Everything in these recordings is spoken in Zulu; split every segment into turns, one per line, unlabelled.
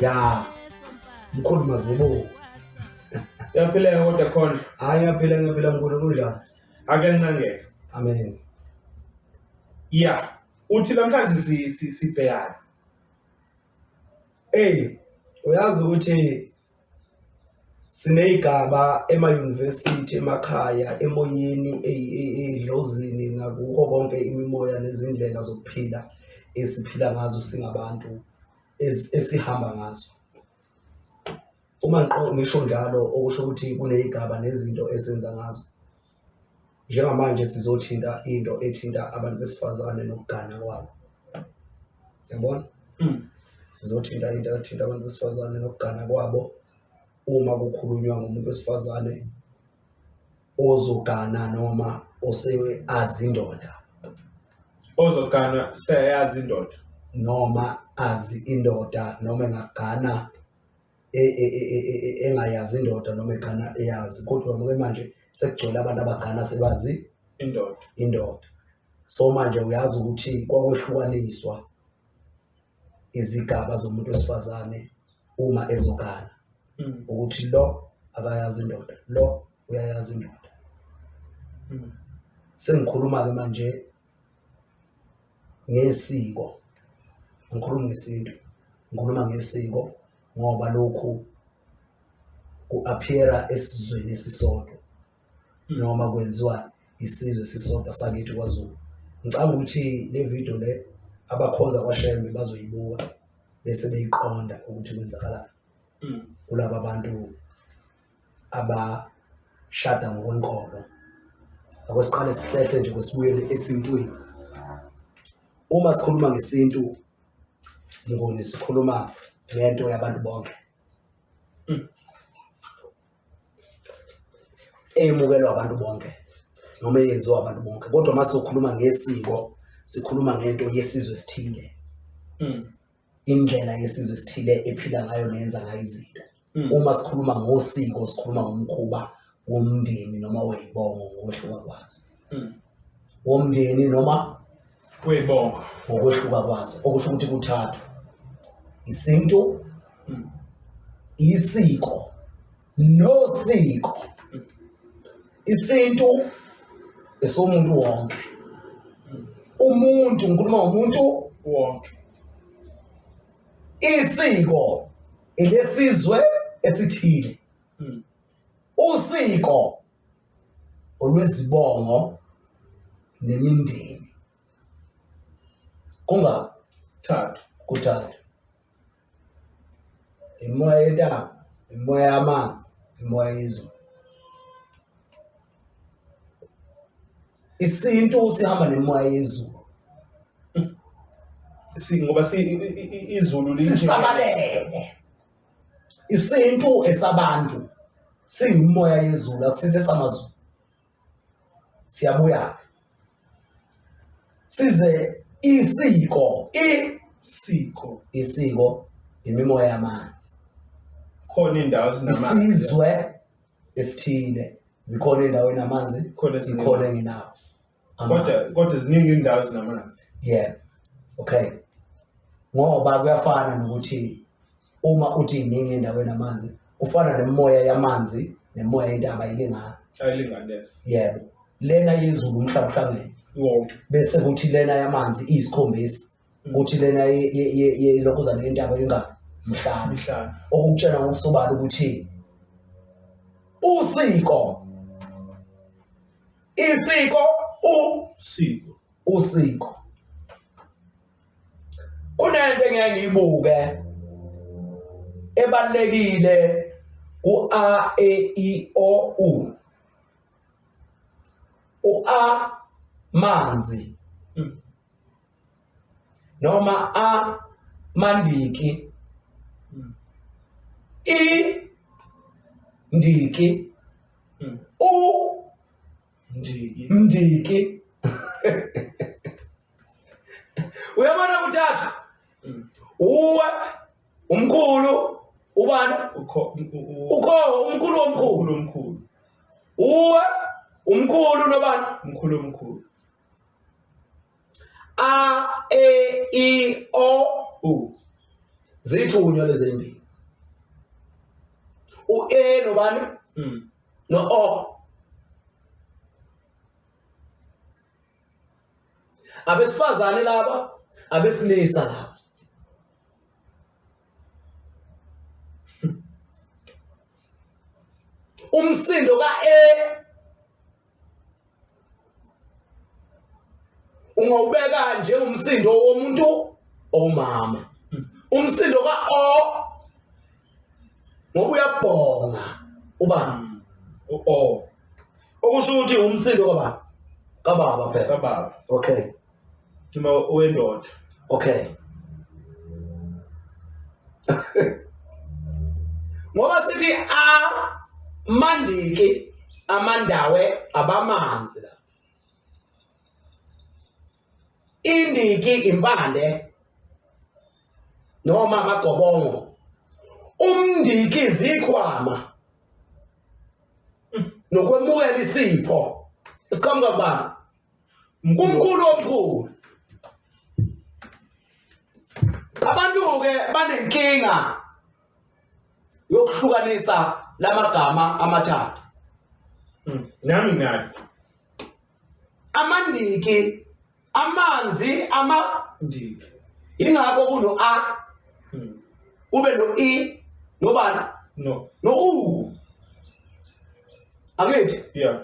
ya mkhulu mazibuko
yaphileka kodwa khondla hayi ngiyaphila ngiyaphila
mkhulu kunjani akencengeke
amen
ya
uthi namhlanje si- si- sibhekane eyi
uyazi ukuthi Siney'gaba emayunivesithi, emakhaya, emoyeni, edlozini nakuko konke imimoya nezindlela zokuphila esiphila ngazo singabantu esihamba ngazo. Uma ngisho njalo okusho ukuthi kuney'gaba nezinto esenza ngazo. njengamanje sizothinta into ethinta abantu besifazane nokugana kwabo yabona mm. sizothinta into ethinta abantu besifazane nokugana kwabo uma kukhulunywa ngomuntu wesifazane ozogana noma osewe azindoda
ozogana seyazi indoda noma
azi indoda noma engagana e, e, e, engayazi indoda noma egana eyazi kodwa muke manje sekugcwele abantu abagana sebazi indoda indoda so manje uyazi ukuthi kwakwehlukaniswa izigaba zomuntu wesifazane uma ezogana hmm. ukuthi lo akayazi indoda lo uyayazi indoda hmm. sengikhuluma ke manje ngesiko ngikhuluma ngesintu ngikhuluma ngesiko ngoba lokhu ku-appeara esizweni esisodwa noma kwenziwa isizwe esisodwa sakithi kwaZulu ngicabanga ukuthi le video le abakhonza kwaShembe bazoyibuka bese beyiqonda ukuthi kwenzakalani hmm. kulaba bantu abashada ngokwenkolo akwesiqale sihlehle nje kusibuyele esintwini uma sikhuluma ngesintu ngoni sikhuluma ngento yabantu bonke hmm. eyemukelwa abantu bonke noma eyenziwa abantu bonke kodwa uma sizokhuluma ngesiko sikhuluma ngento yesizwe esithile hmm. indlela yesizwe esithile ephila ngayo neyenza ngayo izinto mm. uma sikhuluma ngosiko sikhuluma ngomkhuba womndeni noma weyibongo ngokwehluka kwazo mm. womndeni noma weyibongo
ngokwehluka
kwazo okusho ukuthi kuthathu isintu mm. isiko nosiko isintu esomuntu wonke umuntu ngikhuluma ngomuntu wonke isiko elesizwe esithile hmm. usiko olwezibongo nemindeni kungathathu kuthathu imimoya yentaba imimoya yamanzi imimoya yezulu isintu sihamba nemimoya yezulu
si ngoba si izulu lisabalele
isintu esabantu siyimoya yezulu akusise samazulu siyabuya size isiko isiko isiko imimoya yamanzi khona
indawo esinamanzi isizwe
esithile zikhona indawo enamanzi khona zikhona engenawo kodwa
kodwa ziningi indawo ezinamanzi yeah
okay ngoba kuyafana nokuthi uma uthi iningi indawo enamanzi kufana nemoya yamanzi nemoya intaba ayilingani ayilinganesi
yebo
lena yezulu umhlaba uhlangene wonke bese
kuthi lena
yamanzi iyisikhombisa kuthi lena ye- ye- ye- ye- ilokhuzana yentaba ingani mhlaba mhlaba okukutshela ngokusobala ukuthi usiko isiko u siko usiko kunento engiye ngiyibuke ebalekile ku A E I O U u A manzi hmm. noma A mandiki hmm. I ndiki hmm. u ndiki ndiki uyabona kuthathu uwe umkhulu ubani ukho umkhulu omkhulu omkhulu uwe umkhulu nobani umkhulu omkhulu a e i o u zithunywa lezimbili u e nobani hmm. no o abesifazane laba abesilisa laba umsindo ka A ungawubeka njengomsindo womuntu omama umsindo ka O ngoba uyabhonga uba u o
okusho
ukuthi umsindo kababa kababa phela kababa okay kima
owendoda okay
ngoba sithi a mandiki amandawe abamanzi la indiki impande noma amagobongo umndiki zikhwama nokwemukela isipho isiqhamuka kubani umkhulu omkhulu abantu-ke banenkinga yokuhlukanisa lamagama amathathu hmm.
nami nayo amandiki
amanzi amandiki
ingakho
kuno a hmm. kube no i nobani no no
u
angithi yeah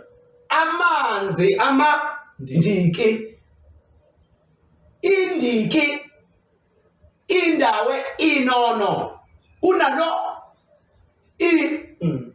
amanzi
amandiki indiki indawe inono kunalo i mm.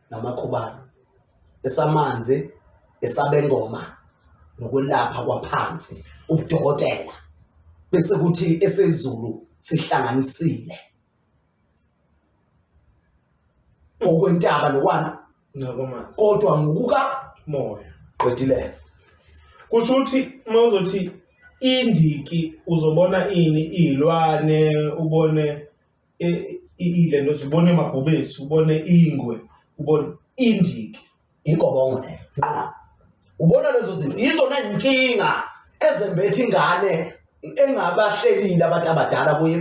namakhubalo esamanzi esabengoma nokwelapha kwaphansi ubudokotela bese kuthi esezulu sihlanganisile okwentaba lokwana ngakwamanzi
kodwa ngokuka
moya
qedile
kusho
ukuthi uma uzothi indiki uzobona ini izilwane ubone ile nto zibona emabhubesi ubone ingwe ubone indiki ingobongo
leyo nqaba ubona lezo zinto yizona nkinga ezembetha ingane engabahlelile abantu abadala kuye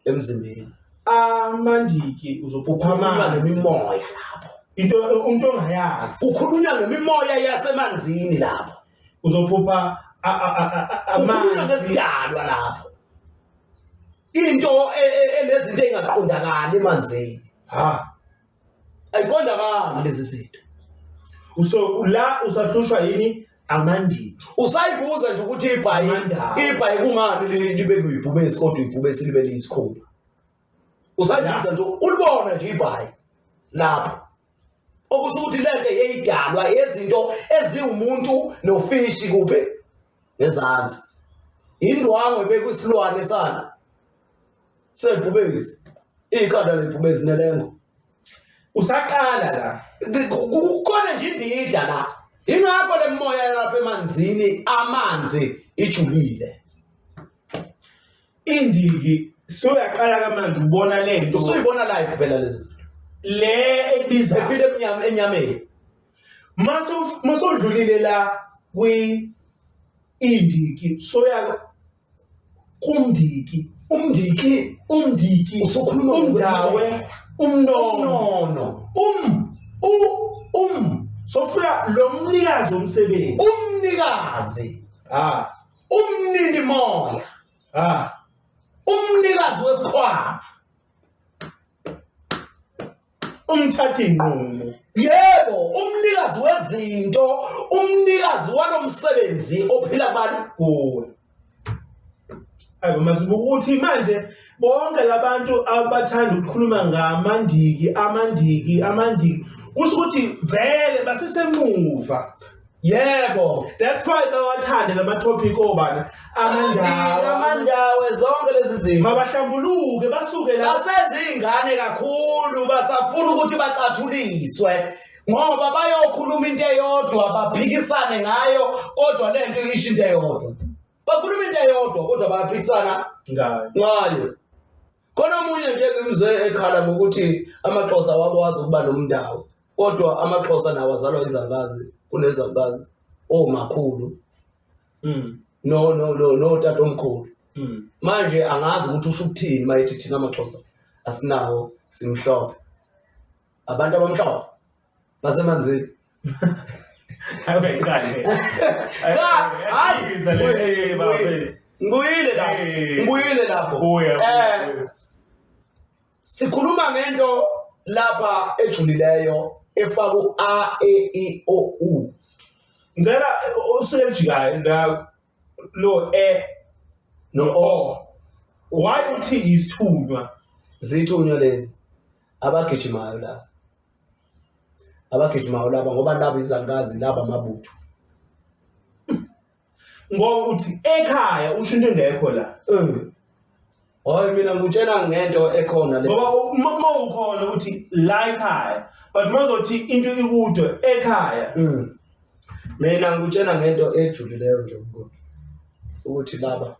emzimbeni amandiki
uzophupha amanzi nemimoya
lapho into umuntu
ongayazi ukhulunywa ngemimoya
yasemanzini lapho uzophupha amanzi ukhulunywa ngesidalwa lapho into e- e- enezinto engaqondakali emanzini ha ayiqondakali lezi zinto uso
ula usahlushwa yini amandini usayibuza
nje ukuthi ibhayi Amandaba. ibhayi kungani li- libe kuyibhubesi kodwa ibhubesi libe liyisikhumba usayibuza nje ulibona nje ibhayi lapho okusho ukuthi lento yeyidalwa yezinto eziwumuntu nofishi kuphi ngezansi indwangu ebekusilwane sana sebhubekisi ikhanda lebhubezinelengo
usaqala la kukhona
nje indida la ingakho lemoya lapha emanzini amanzi ijulile
indiki soyaqala kamanje ubona lento usuyibona live phela
lezi le
ebiza ephile enyameni masodlulile la kwi indiki soya kumndiki umndiki umndiki usukhuluma
umdawe
umnono um u um sofika lo mnikazi omsebenzi umnikazi
ah umnini moya ah umnikazi wesikhwama
umthathi nqumo yebo
umnikazi wezinto umnikazi walomsebenzi ophila abantu kuwe
ayibo masibuka ukuthi manje bonke labantu abathanda ukukhuluma ngamandiki amandiki amandiki kusho ukuthi vele basesemuva Yebo,
that's why
bawathande lama topic obani amandawo.
Amandawo zonke lezi zinto. Mabahlambuluke
basuke la. Basezingane
kakhulu basafuna ukuthi bacathuliswe. Ngoba bayokhuluma into eyodwa baphikisane ngayo kodwa lento isho into eyodwa. Bakhuluma into eyodwa kodwa baphikisana ngayo. Ngayo. Khona omunye nje ngimzwe ekhala ngokuthi amaXhosa awakwazi ukuba nomndawo kodwa amaXhosa nawo azalwa izalukazi kunezalukazi omakhulu mm. no no no no tata omkhulu mm. manje angazi ukuthi usho ukuthini mayethi thina amaXhosa asinawo simhlophe abantu abamhlophe
basemanzini
ngibuyile lapho ngibuyile lapho eh sikhuluma ngento lapha ejulileyo efaka u a e i o u ngicela
usejikayo la lo e
no o why uthi
isithunywa zithunywa
lezi abagijimayo la abagijimayo laba ngoba laba izangazi laba amabutho
ngoba uthi ekhaya usho into engekho la
eh. Hayi mina ngutshela ngento ekhona le. Ngoba uma uma
ukhona uthi la ekhaya but mazothi into ikudwe ekhaya. Mm.
Mina ngutshela ngento ejulileyo nje ubukhona. Ukuthi laba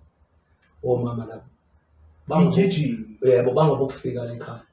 omama laba. Bangigijima.
Yebo
bangobukufika la ekhaya.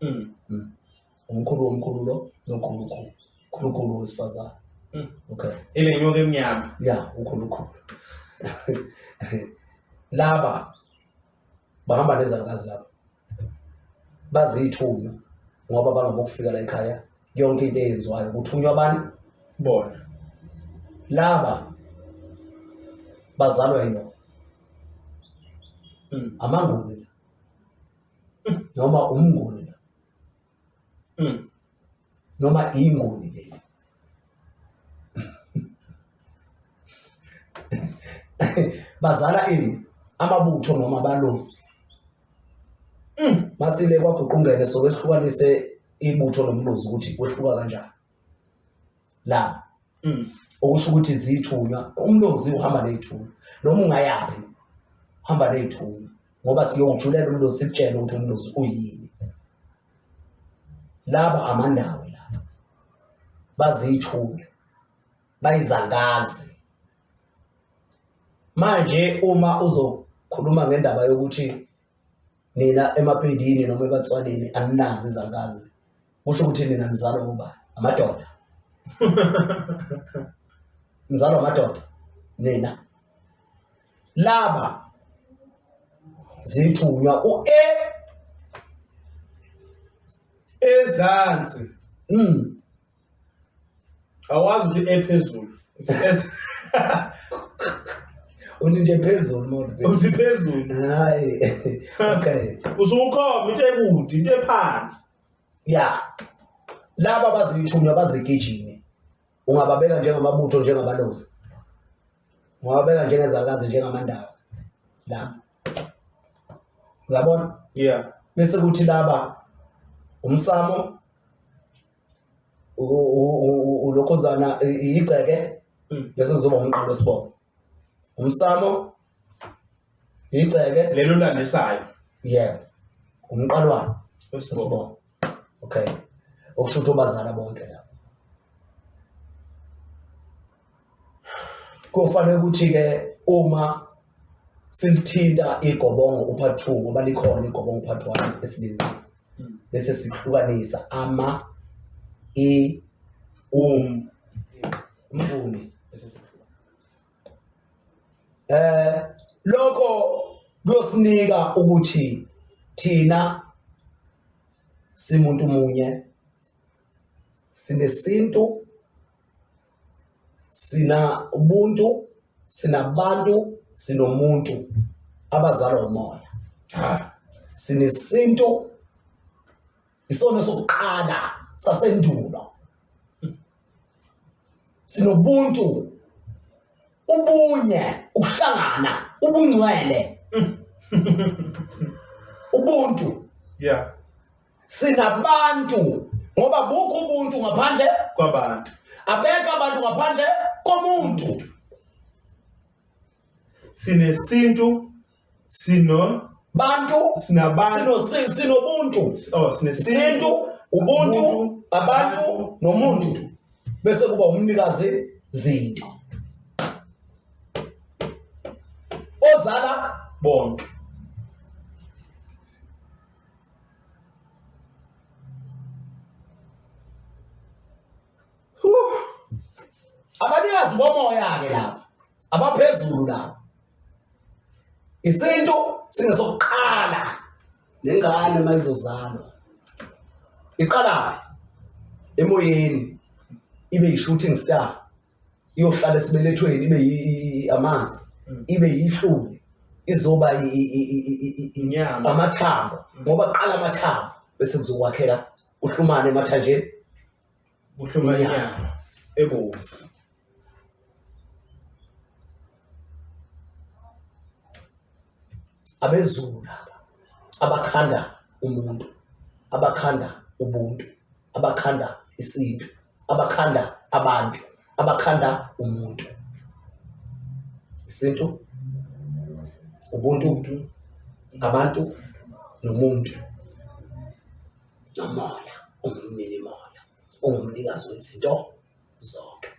Mm. Mm. umkhulu womkhulu lo nokhulukhulu khulukhulu wesifazane Mm. okay Ile nyoka
emnyama. ya ukhulukhulu
laba bahamba nezalukazi laba bazithunywa ngoba bangabokufika la ekhaya yonke into eyenziwayo kuthunywa abantu Bona. laba bazalwa yinoma Mm. amanguni noma umnguni la mm. noma inguni le bazala ini amabutho noma abalozi mm. masile kwaguqungene sokwehlukanise ibutho lomlozi ukuthi kwehluka kanjani la mm. okusho ukuthi zithunywa umlozi uhamba ney'thunywa noma ungayaphi uhamba ney'thunywa ngoba siyowujulela umlozi sikutshele ukuthi umlozi uyini laba amandawo laba baziyithunywa bayizangazi manje uma uzokhuluma ngendaba yokuthi nina emapedini noma ebatswaneni aninazi izangazi kusho ukuthi nina nizalwa uba amadoda nizalwa amadoda nina laba zithunywa u-e
ezansi mm. awazi ukuthi ephezulu Uthi ephe-
uthi nje phezulu mona uthi phezulu
hayi
okay usukhomba into
ekude into ephansi ya
laba abaziyithumi abazigijimi ungababeka njengamabutho njengabalozi ungababeka njengezakazi njengamandawo laba uyabona yeah bese
kuthi laba
umsamo ulokhozana igceke hmm. bese kuzoba umqalo wesibongo umsamo igceke lelo landisayo
yebo
umqalwana wesibongo okay okusho ukuthi obazala bonke lapho Kufanele ukuthi ke uma silithinta igobongo uphathi 2 ngoba likhona igobongo uphathi 1 esilinza bese sihlukanisa ama i um umfuni bese sihluka eh lokho kuyosinika ukuthi thina simuntu munye sinesintu sina ubuntu sinabantu sinomuntu abazalwa umoya sinesintu isona sokuqala sasendulo sinobuntu ubunye ukuhlangana ubungcwele ubuntu yeah
sinabantu
ngoba bukho ubuntu ngaphandle kwabantu
abeka abantu
ngaphandle komuntu
sinesintu sino
bantu sinabantu
sinobuntu
oh sinesintu
ubuntu
abantu nomuntu bese kuba umnikazi zinto ozala bonke abanikazi bomoya-ke laba abaphezulu laba isintu singesokuqala nengane uma izozalwa iqalaphi emoyeni ibe yi-shooting star iyohlala esibelethweni ibe amanzi mm. ibe yihluli izoba inyama
amathambo
mm. ngoba kuqala amathambo bese kuzokwakhela uhlumane emathanjeni kuhluma
inyama ebovu
abezulu laba abakhanda umuntu abakhanda ubuntu abakhanda isintu abakhanda abantu abakhanda umuntu isintu ubuntu ngabantu nomuntu nomoya umnini moya ungumnikazi wezinto zonke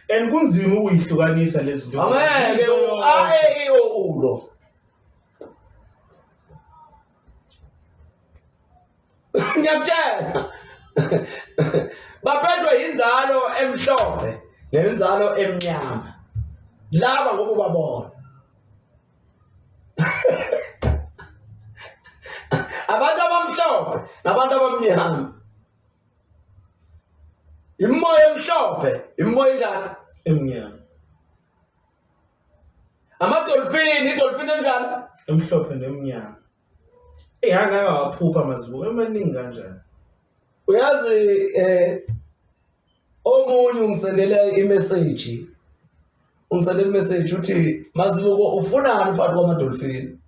and
kunzima ukuyihlukanisa lezi zinto angeke
aeo ulo ngiyakutshela baphendwe inzalo emhlophe nenzalo emnyama laba ngoku babona abantu abamhlophe nabantu abamnyama imimoya emhlophe imimoya enjani emnyama amadolfini idolfini enjani emhlophe
nemnyama Ehanga akawaphupha amazibuko emaningi kanjani. Uyazi eh
omunye ungisendele imessage. Ungisendele imessage uthi mazibuko ufunani phakathi kwama dolphin?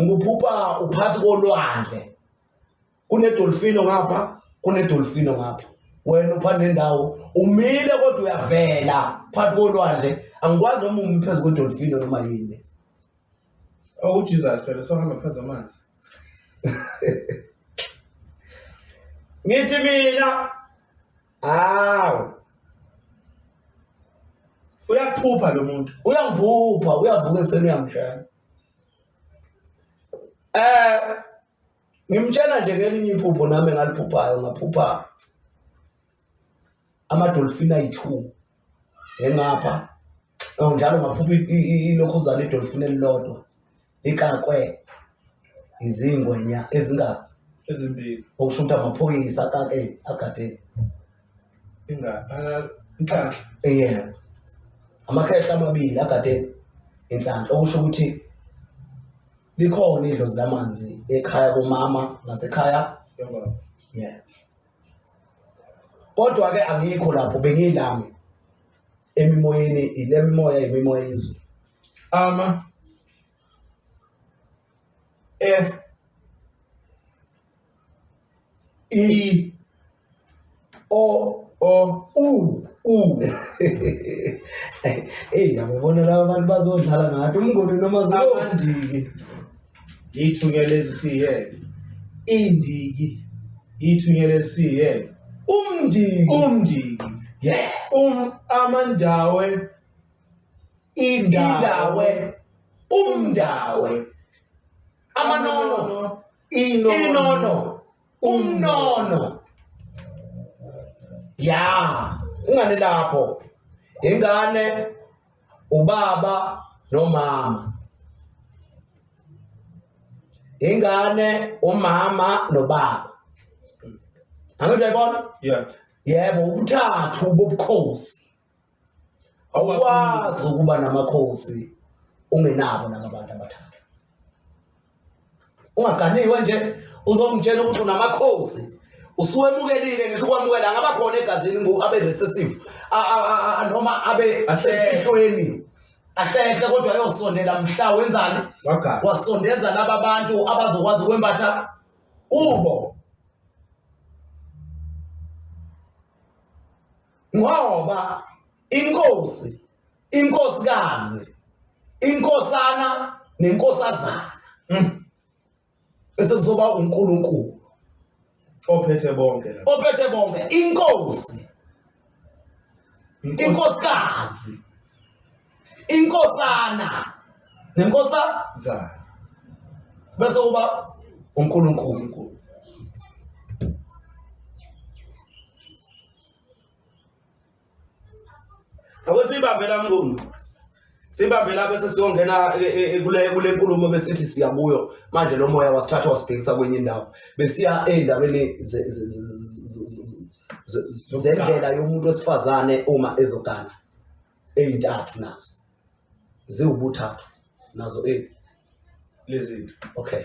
Ngiphupha uphathi kolwandle. kunedolfino ngapha kunedolfino ngapha wena upha nendawo umile kodwa uyavela phakathi kolwandle angikwazi noma umi phezu kwedolfino noma yini
oh ujesus phela sohamba phezu amanzi
ngithi mina hawu
uyaphupha lo muntu uyangiphupha
uyavuka ekuseni uyangishaya um Ngimtshela nje ngelinye iphupho nami engaliphuphayo ngaphupha amadolfini ayi-two engapha oh, njalo ngaphupha ilokhuzana idolfini elilodwa ikakwe izingwenya ezingaphi
ezimbili okusho ukuthi
amaphoyisa akake agade
inhlanhla yeah
amakhehla amabili agade inhlanhla okusho ukuthi Likhona idlozi lamanzi ekhaya komama nasekhaya yobaba.
Yeah.
Kodwa ke angikho lapho bengilami emimoyeni ilemimoya imimoya izwe. Ama eh i o o u u eyi yababona laba bantu bazodlala ngathi umngoni noma zilobandiki
yithunya lezi siye indiki yithunya lezi siye umndiki umndiki yeah
um amandawe indawe umndawe amanono inono umnono ya ingane lapho ingane ubaba nomama ingane umama nobaba angithi uyayibona yeah yebo
ubuthathu
bobukhosi awukwazi ukuba namakhosi ungenabo nakabantu abathathu ungaganiwe nje uzomtshela ukuthi unamakhosi usuwemukelile ngisho ukwamukela ngaba khona egazini ngo abe recessive noma abe asehlweni ahlehle kodwa ayosondela mhla wenzani wasondeza laba bantu abazokwazi ukwembatha kubo ngoba inkosi inkosikazi inkosana nenkosazana mm. bese kuzoba uNkulunkulu
ophethe bonke ophethe bonke inkosi
inkosikazi inkosana nenkosazana bese kuba uNkulunkulu Akusibambe la mnguni. Sibambe la bese siyongena e, e, e, kule kule nkulumo besithi siya kuyo. Manje lo moya wasithatha wasibhekisa kwenye indawo. Besiya endabeni zendlela yomuntu wesifazane uma ezogana. Ezintathu nazo. Ziwubuthathu nazo e lezi. Okay.